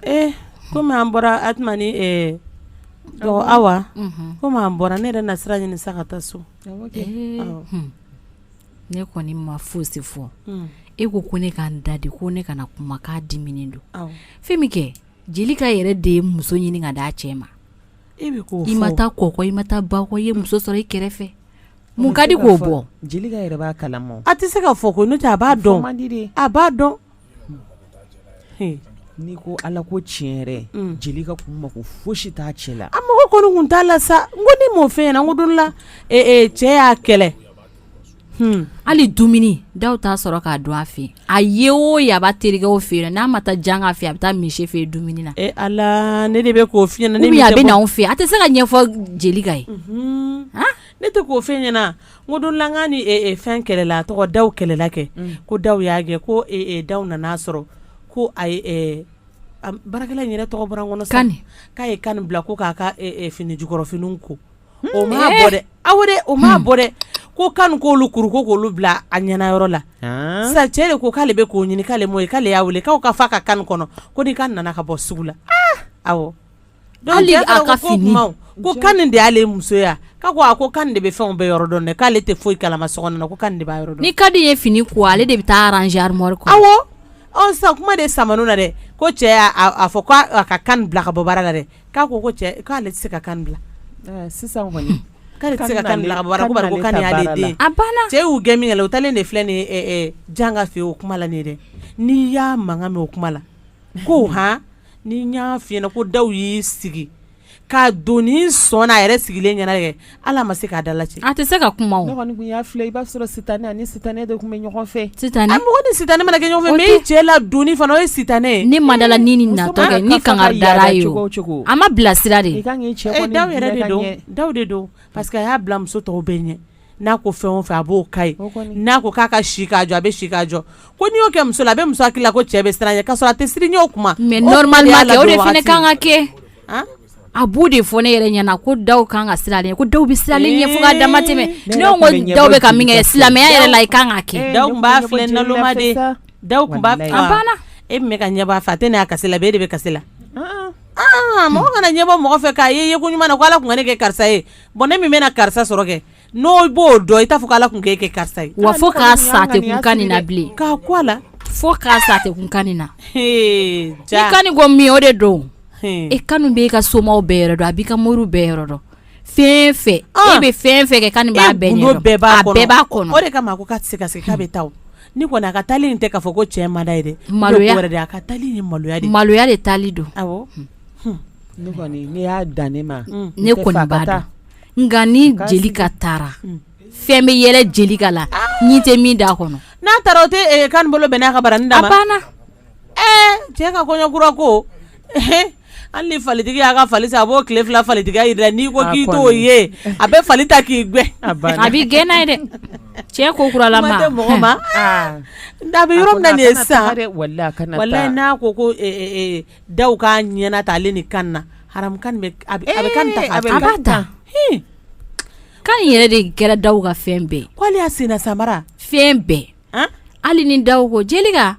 ee kɔmi an bɔra awa komi an bɔra ne yɛrɛ na sira ɲini sa ka taa so ne kɔni ma fosi fɔ e ko ko ne ka n da de ko ne kana kuma k'a diminen don fɛn min kɛ jelika yɛrɛ de ye muso ɲini ka d'a cɛ ma e i ma taa kɔkɔ i ma taa bakɔ i ye muso sɔrɔ i kɛrɛfɛ mun ka di k'o bɔ a tɛ se k'a fɔ ko a b'a dɔn a b'a dɔn n'i ko ala ko tiɲɛ yɛrɛ jelika kun ma ko fosi t'a cɛ la a mɔgɔ kɔni kun t'a la sa n ko ne m'o f'e ɲɛna o don la cɛ y'a kɛlɛ hali dumuni daw t'a sɔrɔ k'a dun a fɛ ayiwa a b'a terikɛw fɛ n'a ma taa janga fɛ a bɛ taa misi fɛ dumuni na ala ne de bɛ k'o f'i ɲɛna a bɛ n'anw fɛ a tɛ se k'a ɲɛfɔ jelika ye ne tɛ k'o f'e ɲɛna O don la k'a ni fɛn kɛlɛla a tɔgɔ daw kɛlɛla kɛ ko daw y'a gɛn ko daw nan'a sɔrɔ ko baarakɛla in yɛrɛ tɔgɔ bɔra n kɔnɔ kani k'a ye kani bila ko k'a ka fini jukɔrɔfini ko o m'a bɔ dɛ awɔ o m'a bɔ dɛ ko kani k'olu kuru ko k'olu bila a ɲɛna yɔrɔ la sa cɛ de ko k'ale bɛ k'o ɲini k'ale m'o ye k'ale y'a weele k'a k'a fɔ ka kani kɔnɔ ko ni kani nana ka bɔ sugu la awɔ Kani de y'ale muso ye ko kani de bɛ fɛn bɛɛ yɔrɔ dɔn k'ale tɛ foyi kalama so kɔnɔ ni kani ye fini ko ale de bɛ taa arranger armoire kɔnɔ awɔ sa kuma de samana dɛ ko cɛ y'a fɔ k'a ka kani bila ka bɔ baara la dɛ k'a ko cɛ k'ale tɛ se ka kani bila sisan k'ale tɛ se ka kani bila a banna cɛ y'u gɛn min kɛ u taalen de filɛ nin janga fɛ o kuma la dɛ n'i y'a mankan mɛn o kuma la ko h Ni n y'a f'i ɲɛna ko daw y'i sigi ka doni sɔn na a yɛrɛ sigilen ɲɛna kɛ hali a ma se k'a dalajɛ a tɛ se ka kuma o ne kɔni tun y'a filɛ i b'a sɔrɔ sitanɛ a ni sitanɛ de tun bɛ ɲɔgɔn fɛ sitanɛ a mɔgɔ ni sitanɛ mana kɛ ɲɔgɔn fɛ mais i cɛ ladonni fana o ye sitanɛ ye ne ma dala ni nin natɔ kɛ ni kankari dar'a ye o a ma bilasira de i ka kan k'i cɛ kɔni bila i ka ɲɛ ee daw yɛrɛ de don daw de don parce que a y'a bila muso tɔw bɛɛ ɲɛ n'a ko fɛn o fɛn a b'o k'a ye n'a ko k'a ka si k'a jɔ a bɛ si k'a jɔ ko n'i y'o kɛ muso la a bɛ muso hakili la ko cɛ bɛ siran a ɲɛ k'a sɔrɔ a tɛ siran i ɲɛ o kuma mais o de kan ka kɛ a b'o de fɔ ne yɛrɛ ɲɛna ko daw kan ka siran ko daw bɛ siran a ɲɛ fo ka dama tɛmɛ ne ko daw bɛ ka min kɛ silamɛya yɛrɛ la i kan ka kɛ daw b'a filɛ naloma de daw tun b'a e bɛ ka ɲɛ b'a fɛ a tɛ ne y'a kasi la e de bɛ kasi la mɔgɔ kana ɲɛ bɔ mɔgɔ fɛ k'a ye ko ɲuman na ko ala tun ka ne kɛ karisa ye bon ne min bɛna karisa sɔrɔ kɛ n'o b'o dɔn i t'a fɔ ala tun k'e kɛ karisa ye wa fo k'a sa tɛ kun Kani na bilen k'a ko a la fo k'a sa tɛ kun Kani na i Kani ko min o de don e Kani bɛ e ka somaw bɛɛ yɔrɔ dɔn a b'i ka moriw bɛɛ yɔrɔ dɔn fɛn fɛn e bɛ fɛn fɛn kɛ Kani b'a bɛɛ ɲɛ dɔn a bɛɛ b'a kɔnɔ o de kama ko k'a tɛ se ka segin k'a bɛ taa ni kɔni a ka taali in tɛ k'a fɔ ko cɛ man d'a ye dɛ maloya wɛrɛ a ka taali ni maloya de maloya de taali don nka ni Jelika taara fɛn bɛ yɛlɛ Jelika la ɲin tɛ min da kɔnɔ n'a taara o tɛ Kani bolo bɛn n'a ka bara da banna cɛ ka kɔɲɔkura ko hali ni falitigi y'a ka fali san a b'o tile fila falitigiya jira n'i ko k'i t'o ye a bɛ fali ta k'i gwɛn a b'i gɛn n'a ye dɛ cɛ ko kuralama mɔgɔ ma da bɛ yɔrɔ min na nin ye sa n'a ko ko Daw k'a ɲɛna ta ale ni Kani na a bɛ Kani ta Kani yɛrɛ de kɛra Daw ka fɛn bɛɛ ko ale y'a sen samara fɛn bɛɛ hali ni Daw ko Jelika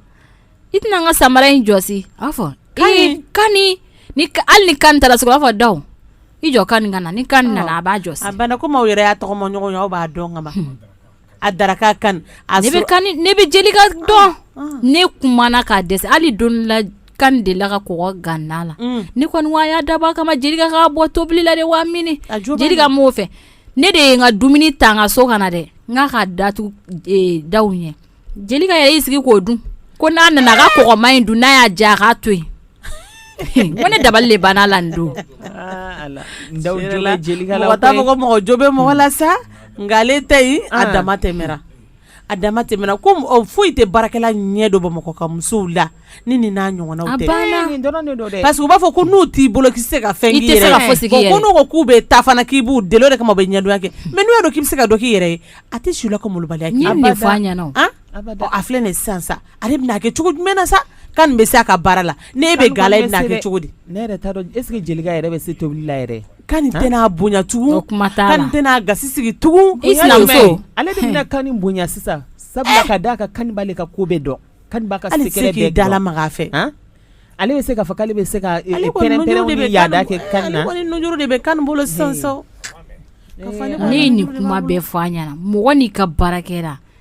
i tɛna n ka samara in jɔsi a b'a fɔ Kani hali ni Kani taara sugu rɔ a b'a fɔ Daw i jɔ Kani ka na ni Kani nana a b'a jɔsi a banna komi aw yɛrɛ y'a tɔgɔma ɲɔgɔn ye aw b'a dɔn ka A daraka Kani ne bɛ Jelika dɔn ne kumana ka dɛsɛ Ala donna Kani de la ka kɔgɔ gan na la ne kɔni wa y'a dabɔ a kama Jelika ka bɔ tobili la de wa mini Jelika m'o fɛ ne de ye n ka dumuni ta n ka so ka na dɛ k'a datugu Daw ɲɛ Jelika yɛrɛ y'i sigi k'o dun ko n'a nana a ka kɔgɔma in dun n'a y'a diya a k'a to yen ko ne dabali de banna la nin don aa Ala n da jɔ la Jelika la koyi mɔgɔ t'a fɔ ko mɔgɔ jo bɛ mɔgɔ la sa nka ale ta in a dama tɛmɛna An. a dama tɛmɛna ko m- ɔ, foyi tɛ baarakɛla ɲɛ don Bamakɔ ka musow la ni nin n'a ɲɔgɔnnaw tɛ. A banna. Ee, nin dɔrɔn de don dɛ parce que u b'a fɔ ko n'u t'i bolo k'i tɛ se ka fɛn k'i yɛrɛ ye. I tɛ se ka fosi k'i yɛrɛ ye. Bon, ko n'u ko k'u bɛ taa fana k'i b'u deli o de kama u bɛ ɲɛdonya kɛ mais n'u y'a dɔn k'i bɛ se ka dɔ k'i yɛrɛ ye a tɛ s'u la ka malobaliya k'i ye. N ye nin de fɔ a ɲɛna o. An? Abada. Ɔ, a filɛ nin ye sisan sa Ale bɛna kɛ cogo jumɛn na sa Kani bɛ se a ka baara la ne bɛ gala a bɛna kɛ cogo di ne yɛrɛ t'a dɔn est-ce que Jelika yɛrɛ bɛ se tobili la yɛrɛ Kani tɛna bonya tugun Kani tɛna gasi sigi tugun e sinamuso ale de bɛna Kani bonya sisan sabula ka da a kan Kani b'ale ka ko bɛɛ dɔn Kani ka k'i dala makan fɛ ale bɛ se ka fɔ k'ale bɛ se ka pɛrɛn yaada kɛ Kani na nujuru de bɛ Kani bolo sisan ne ye nin kuma bɛɛ fɔ a ɲɛna mɔgɔ n'i ka baara kɛra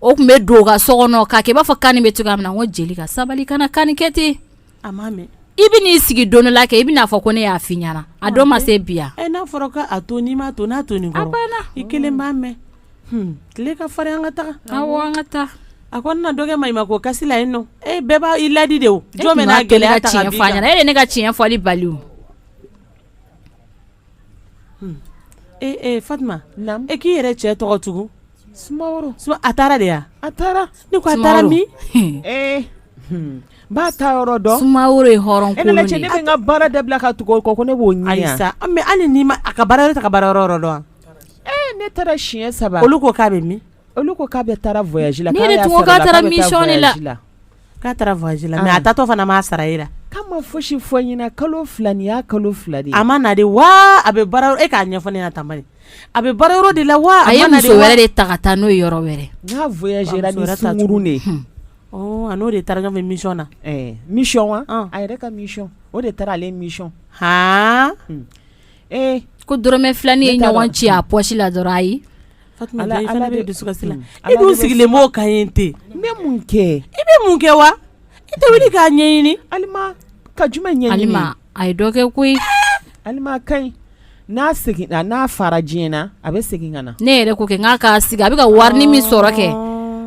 o tun bɛ don ka so kɔnɔ k'a kɛ i b'a fɔ kani bɛ cogoya min na ko jeli ka sabali kana kani kɛ ten i bɛ n'i sigi don la kɛ i bɛn'a fɔ ko ne y'a f'i ɲɛna a dɔ ma se bi yan n'a fɔra k'a to n'i m'a to n'a to nin i kelen b'a mɛn tile ka farin an ka taa an ka taa a ko na dɔ kɛ maɲumako kasi la yen nɔ e bɛɛ b'a i ladi de o jɔn bɛ n'a gɛlɛya tiɲɛ f'a ɲɛna e ye ne ka tiɲɛ fɔli bali o ee Fatima e k'i yɛrɛ cɛ tɔgɔ tugun Sumaworo a taara de a taara ne ko a taara min b'a taa yɔrɔ dɔn sumaworo ye hɔrɔn kolon de ne bɛ n ka baara dabila ka tugu kɔ ko ne b'o ɲini ayi sa mais Alima a ka baara yɔrɔ t'a ka baara yɔrɔ dɔn ee ne taara siɲɛ saba olu ko k'a bɛ min olu ko k'a bɛ taa voyage la K'a taara voyage la mais a taatɔ fana m'a sara e la k'a ma fosi fɔ ɲɛna kalo fila nin y'a kalo fila de a ma na de wa a bɛ baara e k'a ɲɛfɔ ne ɲɛna tan bani a bɛ baara yɔrɔ de la wa a ye muso wɛrɛ de ta ka taa n'o yɔrɔ wɛrɛ n'a voyagera ni sunguru de a n'o de taara ɲɔgɔn fɛ mission na mission wa a yɛrɛ ka mission o de taara ale mission ee ko dɔrɔmɛ filanin ye ɲɔgɔn ci a pɔsi la dɔrɔn ayi Dusukasi la e dun sigilen b'o kan yen ten n bɛ mun kɛ i bɛ mun kɛ wa i tɛ wuli k'a ɲɛɲini Alima ka jumɛn ɲɛɲini Alima a ye dɔ kɛ koyi Alima ka ɲi n'a segin n'a fara diɲɛ na a bɛ segin ka na ne yɛrɛ ko kɛ n'a k'a sigi a bɛ ka wari min sɔrɔ kɛ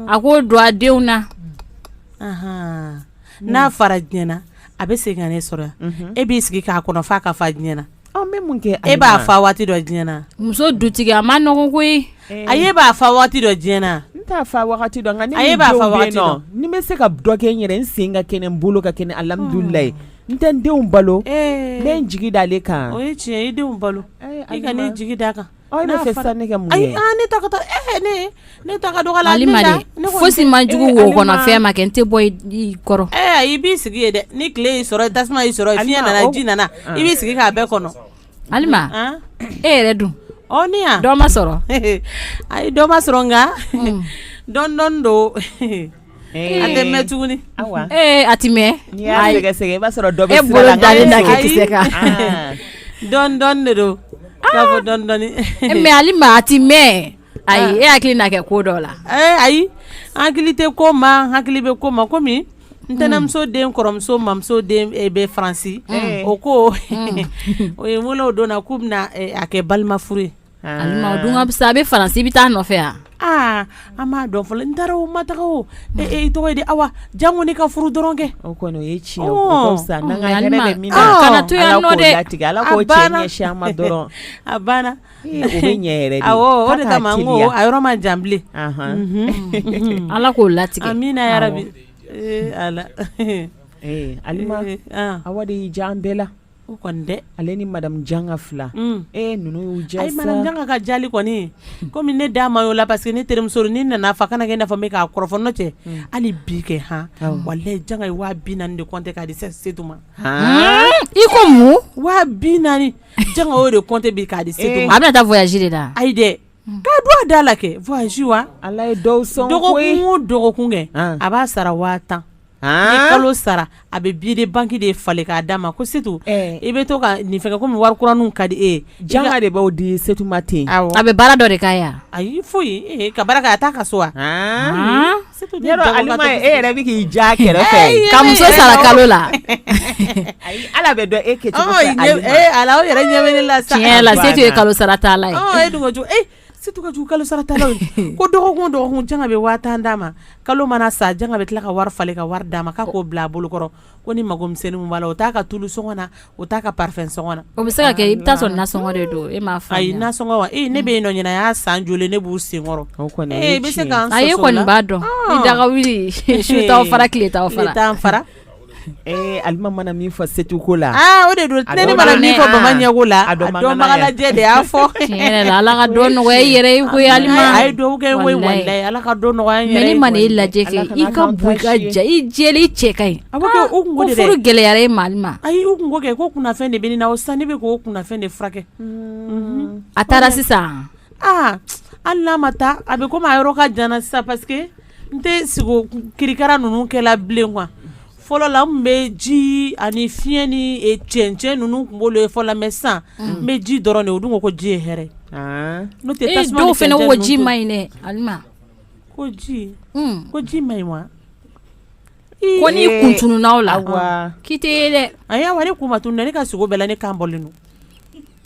a k'o don a denw na n'a fara diɲɛ na a bɛ segin ka ne sɔrɔ e b'i sigi k'a kɔnɔ f'a ka fa diɲɛ na e b'a fa waati dɔn diɲɛ na muso dutigi a ma nɔgɔ koyi ayi e b'a fa waati dɔn diɲɛ na n t'a fa waati dɔn nka ne ni denw bɛ yen ni bɛ se ka dɔ kɛ n yɛrɛ n sen ka kɛnɛ n bolo ka kɛnɛ alhamdulilayi n tɛ n denw balo n bɛ n jigi da ale kan o ye tiɲɛ i denw balo i kan'i jigi d'a kan Ayi ne fɛ sa ne ka mun ye ne ta taa e ne ne ta ka dɔgɔ la Alima de fosi man jugu wo kɔnɔ fɛn ma kɛ n tɛ bɔ i kɔrɔ ɛ i b'i sigi yen dɛ ni tile y'i sɔrɔ tasuma y'i sɔrɔ fiɲɛ nana ji nana i b'i sigi k'a bɛɛ kɔnɔ Alima e yɛrɛ dun ne yan dɔ ma sɔrɔ ayi dɔ ma sɔrɔ nka dɔɔni dɔɔni don Ee, a tɛ mɛn tuguni awa ee a tɛ mɛn n'i y'a Ayi. sɛgɛsɛgɛ i b'a sɔrɔ dɔ bɛ e sira bolo la, nka dalen da e k'i sɛgɛn. kisɛ kan Ah. dɔɔni dɔɔni de don k'a fɔ dɔɔni dɔɔni Eh, mais Alima a tɛ mɛn ayi e hakili na kɛ ko dɔ la Eh, ayi n hakili tɛ ko ma n hakili bɛ ko ma komi n tɛnɛmuso den kɔrɔmuso mamuso den eh, bɛ Faransi o ko o ye wele o don na k'u bɛna eh, a kɛ balima furu ye A bɛ Faransi i bɛ taa nɔfɛ yan aa an m'a dɔn fɔlɔ n taara o ma taga o i tɔgɔ ye di Awa janko ne ka furu dɔrɔn kɛ o kɔni o ye tiɲɛ dɔrɔn a banna ɲɛ a yɔrɔ ma jan bilen ala k'o latigɛ amiina yarabi ala Awa de y'i diya an bɛɛ la O kɔni dɛ ale ni madame Janga fila e ninnu y'u diya ayi madame Janga ka jali kɔni kɔmi ne da ma y'o la parce que ne terimuso ni n nan'a fɔ a kana kɛ i n'a fɔ ne bɛ k'a kɔrɔfɔ n'o tɛ hali bi kɛ hɔn walayi Janga ye waa bi naani de kɔnte k'a di se Setu ma i ko mun waa bi naani Janga y'o de kɔnte bi k'a di Setu ma a bɛna taa voyage de la ayi dɛ K'a don a da la kɛ voyage wa ala ye dɔw sɔn dɔgɔkun o dɔgɔkun kɛ a b'a sara waa tan ni kalo sara a bɛ billet de banque de falen k'a d'a ma ko setu i bɛ to ka nin fɛnkɛ komi wari kuraninw ka di e Janga de b'o di Setu ma ten a bɛ baara dɔ de k'a ye ayi foyi ka baara kɛ a t'a ka so wa e yɛrɛ bɛ k'i ja kɛrɛfɛ ka muso sara kalo la ala bɛ dɔn e kɛ ala yɛrɛ ɲɛ la tiɲɛ la Setu ye kalo sara tala ye e dun ko jugu Setu ka jugu kalo sara tala ye ko dɔgɔkun o dɔgɔkun Janga bɛ waa tan d'a ma kalo mana sa Janga bɛ tila ka wari falen ka wari d'a ma k'a k'o bila a bolokɔrɔ ko ni magomisɛnnin min b'a la o t'a ka tulu sɔngɔ na o t'a ka parfum sɔngɔ na o bɛ se ka kɛ i bɛ taa sɔrɔ nasɔngɔ de don e m'a faamuya ayi nasɔngɔ wa ee ne bɛ yen nɔ ɲinan y'a san joli ne b'u senkɔrɔ o kɔni o ye tiɲɛ ye ee i bɛ se k'an sɔsɔ o la a e kɔni b'a dɔn i daga wuli su t'aw fara tile t'aw fara tile t'an fara ee alima mana min fɔ Setu ko la aa o de don ne mana min fɔ bama ɲɛko la a dɔnbaga lajɛ de y'a fɔ tiɲɛ yɛrɛ la ala ka dɔ nɔgɔya i yɛrɛ ye koyi alima a ye dugawu kɛ n ye walayi Ka dɔ nɔgɔya n yɛrɛ ye jumɛn ye mais ni maa y'i lajɛ kɛ i ka bon i ka jan i jɛlen i cɛ ka ɲi a bɛ kɛ o kunko de dɛ aa ko furu gɛlɛyara e ma Alima ayi o kunko kɛ ko kunnafɛn de bɛ ne na o sisan ne bɛ k'o kunnafɛn de furakɛ unhun a taara sisan a aa hali n'a ma taa a bɛ comme a yɔrɔ ka jan na sisan parce que n tɛ sugo kirikara ninnu kɛla bilen quoi fɔlɔ la n bɛ ji ani fiɲɛ ni e, cɛncɛn ninnu n tun b'olu ye fɔlɔ mais sisan n bɛ ji dɔrɔn de o dun ko ko ji ye hɛrɛ ah. n'o tɛ tasuma ni dɔw fana ko ji ma ɲi dɛ Alima ko ji hmm. ko ji ma ɲi wa ko n'i kun tununna o la k'i tɛ ye dɛ ayi awa ne kun ma tunun dɛ ne ka sugo bɛɛ la ne kan bɔlen don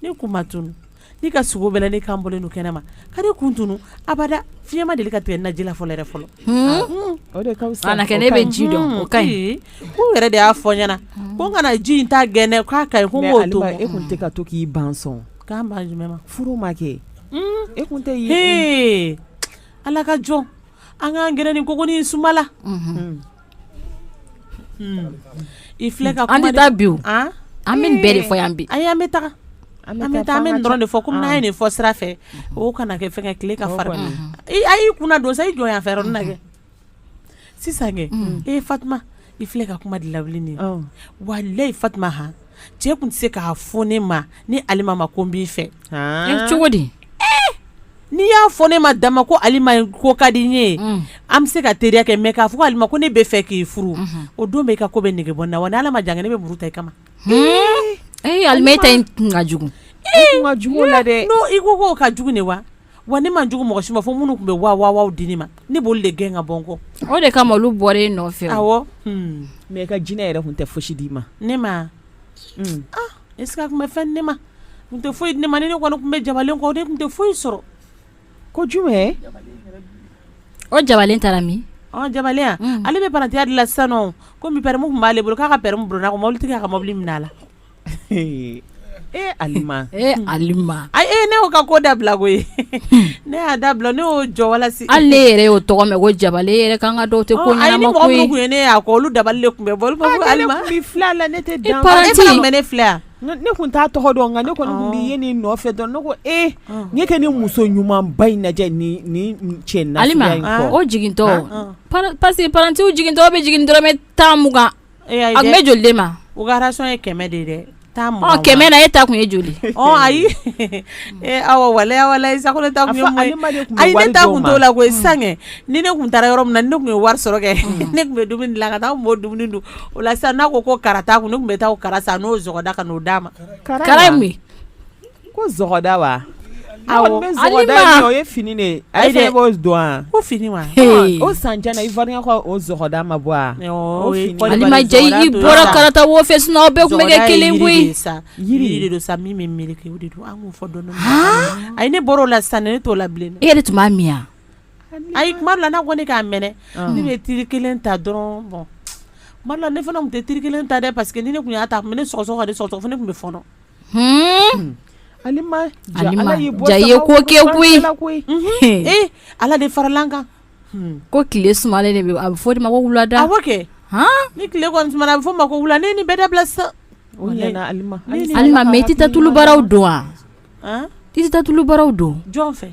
ne kun ma tunun Ne ka sugo bɛɛ la ne kan bɔlen don kɛnɛ ma ka ne kun tunun abada fiɲɛ ma deli ka tigɛ n na ji la fɔlɔ yɛrɛ fɔlɔ ne bɛ ji dɔn o ka ɲi k'u yɛrɛ de y'a fɔ n ɲɛna ko n kana ji in ta gɛn k'a ka ɲi ko n k'o to e tun tɛ ka to k'i ban k'an ma furu ma kɛ e tɛ ala ka jɔn An k'an gɛrɛ nin kogo nin suma la i filɛ ka an tɛ taa bi an bɛ nin bɛɛ de fɔ yan bi ayi an bɛ taa an bɛ taa an bɛ nin dɔrɔn de fɔ komi n'a ye nin fɔ sira fɛ o kana kɛ fɛnkɛ tile ka fara a y'i kunna don sa i jɔ yan fɛ yɔrɔ nin na kɛ sisan kɛ Fatuma i filɛ ka kuma de lawuli nin walayi Fatuma ha cɛ tun tɛ se k'a fɔ ne ma ne Alima ma ko n b'i fɛ cogo di n'i y'a fɔ ne ma dama ko Alima ko ka di n ye an bɛ se ka teriya kɛ mɛ k'a fɔ ko Alima ko ne bɛ fɛ k'i furu o don bɛ i ka ko bɛ nege bɔ n na wa ni Ala ma jan kɛ ne bɛ muru ta i kama e Alima e ta ka jugu ka jugu la dɛ i ko ko ka jugu ne wa Wa ne man jugu mɔgɔ si ma fo minnu tun bɛ waa waaw di ne ma ne b'olu de gɛn ka bɔ n kɔ o de kama olu bɔra e nɔfɛ mɛ i ka jinɛ yɛrɛ tun tɛ foyi d'i ma ne ma ɛsike a tun bɛ fɛn di ne ma a tun tɛ foyi di ne ma ne kɔni tun bɛ jabalen kɔ ne tun tɛ foyi sɔrɔ ko jumɛn o jabalen taara min jabalen ale bɛ parantiya de la sisan komi pɛrɛmi tun b'ale bolo k'a ka pɛrɛmi burunna ko mobili tigi y'a ka mobili minɛ a la e alima e alima ayi ne y'o ka ko dabila koyi ne y'a dabila ne y'o jɔ wa hali ne yɛrɛ y'o tɔgɔ mɛn ko jabalen yɛrɛ ka kan ka dɔw tɛ ko ɲɛnama ne y'a kɔ olu dabali de tun bɛ bɔ olu b'a fɔ alima ne tun b'i filɛ la ne tɛ dan e fana tun bɛ ne filɛ ne tun t'a tɔgɔ dɔn nka ne kɔni tun b'i ye nin nɔfɛ dɔn ne ko ɲɛ kɛ nin muso ɲumanba in lajɛ nin cɛ nasuguya in kɔ alima o jigintɔ paseke paranti jigintɔ bɛ jigin dɔrɔmɛ tan mugan A tun bɛ joli d'e ma o ka rasiyɔn ye kɛmɛ de dɛ kɛmɛ na e ta tun ye joli ayi awɔ walayi sa ko ne ta tun ye ayi ne ta tun t'o la koyi sisan ni ne tun taara yɔrɔ min na ne tun ye wari sɔrɔ kɛ ne tun bɛ dumuni dilan ka taa a tun b'o dumuni dun o la sisan n'a ko ko kara t'a kun ne tun bɛ taa o kara san n'o zɔgɔda ka n'o d'a ma Ko zɔgɔda wa awɔ alima o ye fini de ye b'o dɔn ko fini wa o san i fɔ o zɔgɔda ma bɔ alima i bɔra karata wo fɛ sinɔn aw bɛɛ tun bɛ kɛ kelen koyi yiri de don sa min bɛ meleke o de don an k'o fɔ dɔɔni ayi ne bɔra o la sisan ne t'o la bilen e yɛrɛ tun b'a min wa ayi kuma dɔ la n'a ko ne k'a mɛnɛ ne bɛ tiri kelen ta dɔrɔn bɔn kuma dɔ la ne fana tun tɛ tiri kelen ta dɛ paseke ni ne tun y'a ta ne sɔgɔsɔgɔ ka sɔgɔsɔgɔ fo ne tun bɛ fɔɔnɔ ala de farala an kan ko tile sumalen de a bɛ fɔ o de ma ko wulada awɔ kɛ ni tile kɔni sumana a bɛ fɔ ma ko wula ne nin bɛɛ dabila sisan alima mɛ i tɛ taa tulu baraw don wa i tɛ taa tulu baraw don jɔn fɛ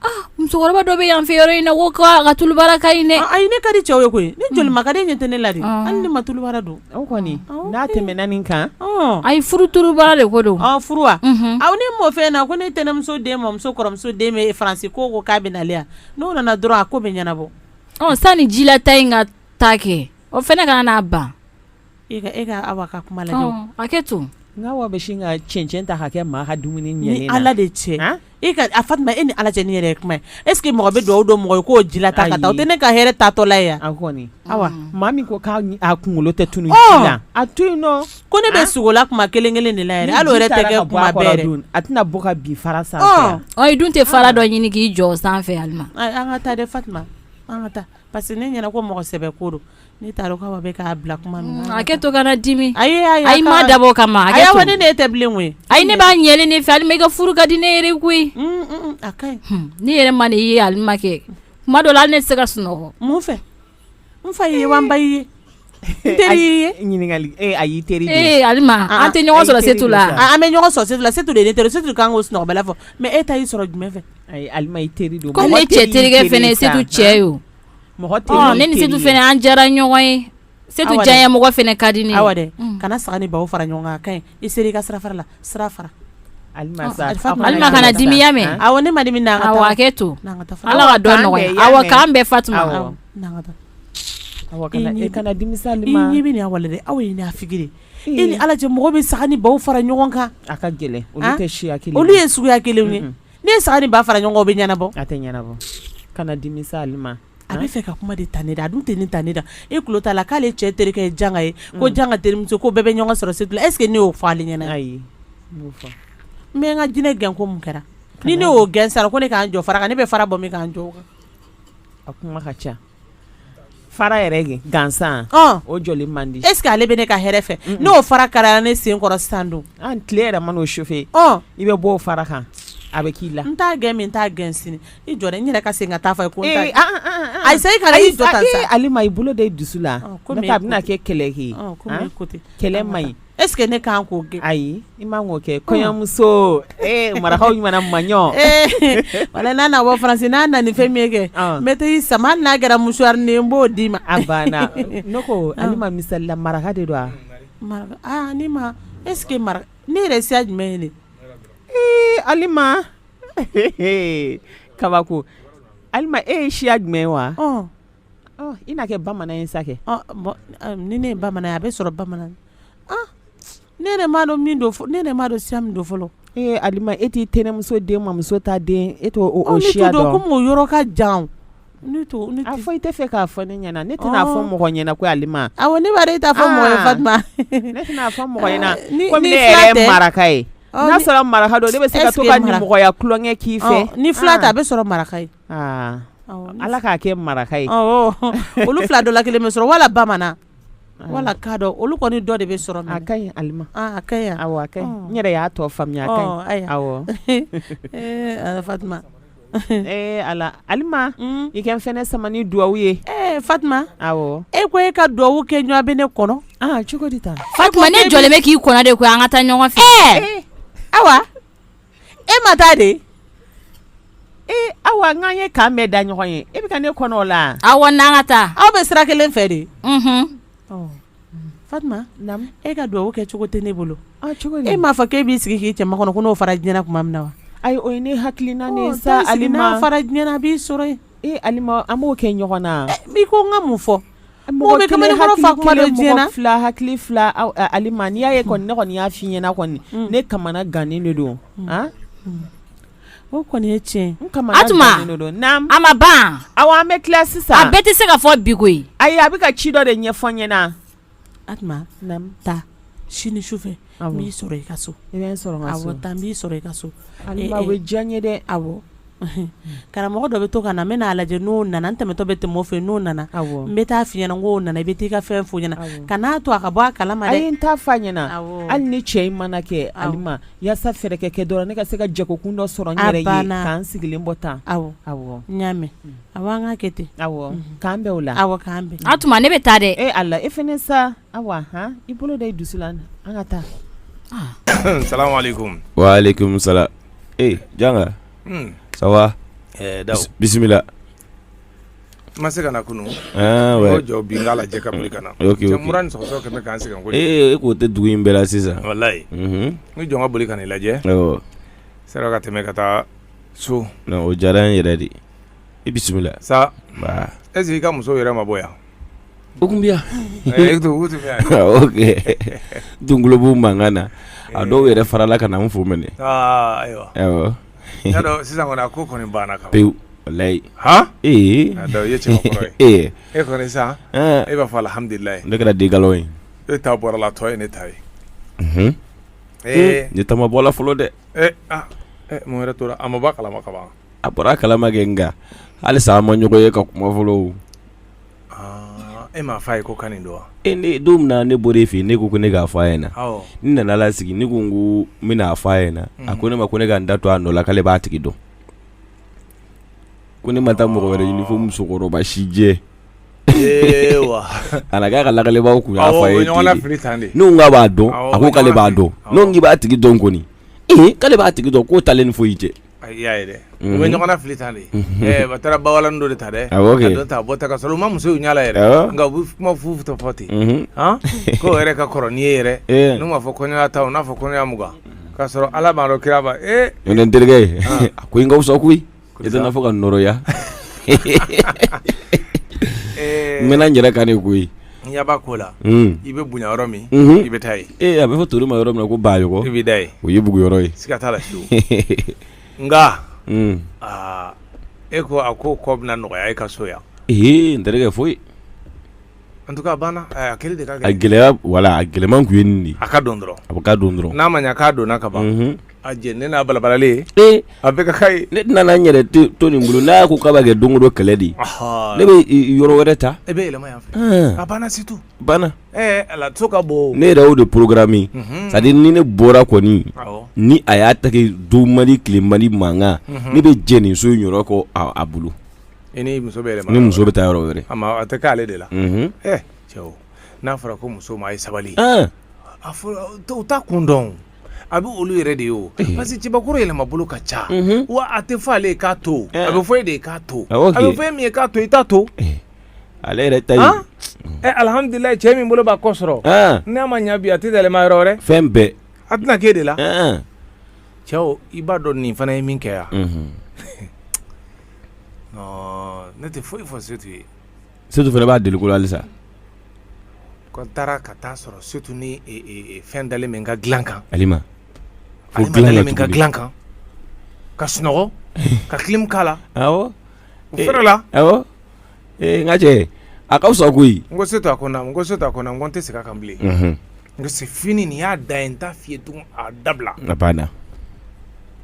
Aa musokɔrɔba dɔ bɛ yan fɛ yɔrɔ in na k'o ka tulubara ka ɲi dɛ ayi ne ka di cɛw ye koyi ne joli ma ka di ɲɛ tɛ ne la de hali ni n ma tulubara don kɔni n'a tɛmɛna nin kan ayi furu tulubara de ko don furu wa aw ne m'o fɛ na ko ne tɛnɛnmuso den mɔmuso kɔrɔmuso den bɛ Faransi ko ko k'a bɛ na le yan n'o nana dɔrɔn a ko bɛ ɲɛnabɔ sani jilata in ka taa kɛ o fana ka n'a ban E e ka Awa ka kuma lajɛ hakɛ to nka Awa bɛ sin ka cɛncɛn ta ka kɛ maa ka dumuni ɲɛlen na ni ala de cɛ e a Fatuma e ni ala cɛ nin yɛrɛ ye kuma ye est-ce que mɔgɔ bɛ dugawu don mɔgɔ ye k'o ji ta la tɛ ne ka hɛrɛ taatɔ la yan a kɔni Awa maa min ko k'a kunkolo tɛ tunun ji la a to yen ko ne bɛ sogola kuma kelen kelen de la yɛrɛ hali o yɛrɛ tɛ a tɛna bɔ ka bin fara sanfɛ i dun tɛ fara dɔ ɲini k'i jɔ sanfɛ an ka taa Fatuma an ka taa parce que ne ɲɛna ko mɔgɔ sɛbɛ ko don Ne t'a dɔn k'Awa bɛ k'a bila kuma min na hakɛ to kana dimi ayi ma dabɔ o kama ne ne tɛ bilen koyi ayi ne b'a ɲɛlen ne fɛ Alima i ka furu ka di ne yɛrɛ koyi ne yɛrɛ ma de ye alima kɛ kuma dɔ la hali ne tɛ se ka sunɔgɔ mun fɛ n fa ye wa n ba ye teri ɲininkali ayi teri alima an tɛ ɲɔgɔn sɔrɔ setu la an bɛ ɲɔgɔn sɔrɔ setu la setu de ne teri setu kan ko sunɔgɔ bala fɔ mais e ta y'i sɔrɔ jumɛn fɛ ayi alima i teri don ko ne cɛ terikɛ fana setu cɛ ye Mɔgɔ tɛ yen, ɔ ne ni Setu fana an diyara ɲɔgɔn ye, awa, Setu diyanyemɔgɔ fana ka di ne ye, Awa dɛ, kana saga ni baw fara ɲɔgɔn kan a ka ɲi, i sera i ka sira fara la, sira fara, Alima kana dimi i y'a mɛn, awɔ ne ma dimi, na an ka taa, awɔ hakɛ to, na an ka taa, Ala ka dɔ nɔgɔya, awɔ k'an bɛn Fatuma, awɔ, na an ka taa, awɔ kana dimi sa, i ɲɛ bɛ nin na walahi, aw ye naafigi de ye, e ni Ala cɛ mɔgɔ bɛ saga ni baw fara ɲɔgɔn kan, a ka gɛlɛn, olu tɛ siya kelen ye, olu ye suguya kelenw ye Ne ye saga ni ba fara ɲɔgɔn kan o bɛ ɲɛnabɔ a tɛ ɲɛnabɔ kana dimi sa Alima a bɛ fɛ ka kuma de ta ne da a dun tɛ nin ta ne da e tulo t'a la k'ale cɛ terikɛ ye janga ye ko janga terimuso ko bɛɛ bɛ ɲɔgɔn sɔrɔ setu la est-ce que ne y'o fɔ ale ɲɛna ayi n bɛ n ka jinɛ gɛn ko mun kɛra ni ne y'o gɛn sa a ko ne ka n jɔ fara kan ne bɛ fara bɔ min ka n jɔ o kan a kuma ka ca fara yɛrɛ gansan o jɔli man di est-ce que ale bɛ ne ka hɛrɛ fɛ n'o fara karira ne sen kɔrɔ sa dun an tile yɛrɛ man'o chauffer i bɛ bɔ o fara kan a bɛ k'i la n t'a gɛn min n t'a gɛn sini i jɔ dɛ n yɛrɛ ka segin ka taa fɔ ko ayi i kana i jɔ Alima i bolo d'i dusu la a bɛna kɛ kɛlɛ kɛ kɛlɛ man ɲi Est ce que ne kan k'o kɛ. Ayi i man k'o kɛ kɔɲɔmuso ee marakaw ɲuman maɲɔ. Walaye n'a na bɔ France n'a na ni fɛn min ye kɛ n bɛ taa i sama hali n'a kɛra mouchoirnin ye n b'o d'i ma. A banna ne ko Alima misali la maraka de don wa? Aa ne ma est ce que maraka ne yɛrɛ siya jumɛn ye nin ye? Ee Alima kabako Alima e ye siya jumɛn ye wa? I na kɛ bamanan ye sa kɛ. Ni ne ye bamanan ye a bi sɔrɔ bamanan ne yɛrɛ m'a dɔn min don ne yɛrɛ m'a dɔn siya min don fɔlɔ. Ee Alima e t'i tɛnɛmuso den mamuso ta den e t'o siya dɔn. Komi o yɔrɔ ka jan ne t'o ne t'o. I tɛ fɛ k'a fɔ ne ɲɛna ne ti n'a fɔ mɔgɔ ɲɛna ko Alima. Awɔ ne b'a dɔn e t'a fɔ mɔgɔ ye Fatuma. Ne ti n'a fɔ mɔgɔ ɲɛna comme ne yɛrɛ ye maraka ye n'a sɔrɔ maraka don ne bi se ka to ka nimɔgɔya tulonkɛ k'i fɛ. Ni fila tɛ a bi sɔrɔ maraka ye. ala k'a kɛ maraka ye olu fila dɔ la kelen bɛ sɔrɔ wala bamanan wala kadɔ olu kɔni dɔ de bɛ sɔrɔ a ka ɲi Alima a ka ɲi n yɛrɛ y'a tɔ faamuya ee ala Alima i ka n fana sama ni duwa ye ee Fatuma e ko e ka duwa kɛ ɲɔgɔn bɛ ne kɔnɔ cogo Fatuma ne jɔlen bɛ k'i kɔnɔ de ko an ka taa ɲɔgɔn fɛ awa e ma taa de ee awa n'an ye kan bɛɛ da ɲɔgɔn ye e bɛ ka ne kɔnɔ o la awa n'an ka taa aw bɛ sira kelen fɛ de Fatuma e ka dugawu kɛ cogo tɛ ne bolo e m'a fɔ k'e b'i sigi k'i cɛ makɔnɔ ko n'o fara diɲɛna tuma min na wa ayi o ye ne hakilina ye sa Alima n'a fara diɲɛna a b'i sɔrɔ yen Alima an b'o kɛ ɲɔgɔn na i ko n ka mun fɔ Mɔgɔ bɛ kamalen kɔrɔ fa kuma dɔn diɲɛ na, mɔgɔ kelen, mɔgɔ fila, hakili fila, awɔ Alima n'i y'a ye kɔni ne kɔni y'a fɔ i ɲɛna kɔni, un, ne kamana gannen de don, an, o kɔni ye tiɲɛ ye, n kamana gannen de don, Atuma, naamu, a ma ban, awɔ an bɛ tila sisan, a bɛɛ tɛ se ka fɔ bi koyi, ayi a bɛ ka ci dɔ de ɲɛfɔ n ɲɛna, Atuma, naamu, taa sini sufɛ n b'i sɔrɔ i ka so i bɛ n sɔrɔ n ka so taa n b'i sɔrɔ i ka so o bɛ diya n ye dɛ awɔ karamɔgɔ dɔ bɛ to ka na n bɛ n'a lajɛ n'o nana n tɛmɛtɔ bɛ tɛmɛ o fɛ n'o nana n bɛ t'a f'i ɲɛna n k'o nana i bɛ taa i ka fɛn f'o ɲɛna kan'a to a ka bɔ a kalama n t'a f'a ɲɛna hali ni cɛ in mana kɛ Alima walasa fɛɛrɛ ka kɛ dɔrɔn ne ka se ka jagokun dɔ sɔrɔ n yɛrɛ ye k'an sigilen bɔ tan awɔ awɔ n y'a mɛn awɔ an k'a kɛ ten awɔ k'an bɛn o la awɔ k'an bɛn a tuma ne bɛ taa dɛ e ala e fana sa Awa han i bolo da i dusu la an ka taa salamuhalekum walekum salam ee janga ça va ɛɛ Dawu bisimila n ma se ka na kunu ah ouais jɔ bi n k'a lajɛ ka boli ka na ok cɛ ok mura ni sɔgɔsɔgɔ kɛlen bɛ k'an sɛgɛn kojugu ee e k'o tɛ dugu in bɛɛ la sisan walayi Mhm. n jɔ n ka boli ka n'i lajɛ awɔ sera ka tɛmɛ ka taa so non o diyara n yɛrɛ de i bisimila saba est ce que i ka muso yɛrɛ ma bɔ yan O tun bɛ yan Dungulobugu mankan na a dɔw yɛrɛ farala ka na n fo mɛn ayiwa sisan kɔni a ko kɔni banna kaban pewu walayi ee i ye cɛbakɔrɔ ye e kɔni sisan e b'a fɔ alhamdulila ne kɛra dika ye e ta bɔra la tɔ ye ne ta ye ee ne ta ma bɔ la fɔlɔ dɛ mun wɛrɛ tora a ma bɔ a kalama kaban a bɔra a kalama kɛ nka halisa an ma ɲɔgɔn ye ka kuma fɔlɔ E m'a fɔ a ye ko kan nin don wa ee don min na ne bɔra e fɛ yen ne ko ko ne k'a fɔ a ɲɛna n nana sigi ne ko ko n bɛn'a fɔ a ɲɛna a ko ne ma ko ne ka n da to a nɔ la k'ale b'a tigi dɔn ko ne ma taa mɔgɔ wɛrɛ ɲini fo musokɔrɔba sijɛ wa a ka ka lajɛlibaw tun y'a f'a ye n k'a b'a dɔn a ko k'ale b'a dɔn n k'i b'a tigi dɔn kɔni ee k'ale b'a tigi dɔn k'o t'ale ni foyi cɛ A y'a ye dɛ u bɛ ɲɔgɔn fili tan de a taara ba walan dɔ de ta dɛ awɔ a don ta bɔ ta ka sɔrɔ u ma muso in ɲɛla yɛrɛ nka u bɛ kuma fu fu dɔ fɔ ten k'o yɛrɛ ka kɔrɔ n'i ye yɛrɛ n'u m'a fɔ kɔɲɔya tan u n'a fɔ kɔɲɔya mugan k'a sɔrɔ ala b'a dɔn kira b'a e n terikɛ ye a ko in ka wusa koyi i tɛna fɔ ka nɔgɔya n yɛrɛ ka de koyi N ɲɛ b'a ko la, un, i bɛ bonya yɔrɔ min, unhun, i bɛ taa yen, ee a bɛ fɔ tori ma yɔrɔ min na ko baɲɔgɔn, i bɛ da yen, o ye bugu yɔrɔ ye, siga t'a la fiyew, nka, un, aa e ko a ko kɔ bɛna nɔgɔya e ka so yan, ee n terikɛ foyi, en tout cas a banna, a kɛli de ka gɛlɛn, a gɛlɛya voilà a gɛlɛman tun ye nin de ye, a ka don dɔrɔn, a bɛ ka don dɔrɔn, n'a ma ɲɛ k'a donna ka ban, unhun a jɛ ne n'a balabalalen ee a bɛ ka ye ne tɛna n yɛrɛ to nin bolo n'a ko k'a b'a kɛ don o don kɛlɛ de ye ne bɛ yɔrɔ wɛrɛ ta e bɛ yɛlɛma yan fɛ a banna c'est tout banna ala to ka bɔ ne yɛrɛ y'o de programmé c'est-à-dire ni ne bɔra kɔni ni a y'a ta kɛ don man di tile man di mankan ne bɛ jɛn nin so in yɔrɔ kɔ a bolo e ni muso bɛ ni muso bɛ taa yɔrɔ wɛrɛ a tɛ k'ale de la cɛ n'a fɔra ko muso ma a ye sabali u t'a kun dɔn a bɛ olu yɛrɛ de ye o parce que cɛbakɔrɔ yɛlɛma bolo ka ca wa a tɛ fɔ ale ye k'a to a bɛ fɔ e de ye k'a to a bɛ fɔ min ye k'a to i t'a to ale yɛrɛ ta ye alhamdulilahi cɛ min bolo b'a kɔ sɔrɔ n'a ma ɲɛ bi a tɛ yɛlɛma yɔrɔ wɛrɛ fɛn bɛɛ a tɛna k'e de la cɛw i b'a dɔn nin fana ye min kɛ yan ne tɛ foyi fɔ Setu ye Setu fana b'a deli ko la halisa. Ko n taara ka taa sɔrɔ Setu ni fɛn dalen bɛ n ka dilan kan. Alima. Ko dilan na cogo di? Alima dalen bɛ n ka dilan kan, ka sunɔgɔ, ka clim k'a la. Awɔ. O fɛrɛ la. Awɔ. Ee n ka cɛ, a ka fisa koyi. N ko Setu a ko naamu, n ko Setu a ko naamu, n ko n tɛ segin a kan bilen. Unhun. N ko c'est fini nin y'a dan ye, n t'a f'i ye tugun a dabila. A banna.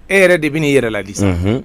E yɛrɛ de bɛn'i yɛrɛ ladi sa. Unhun.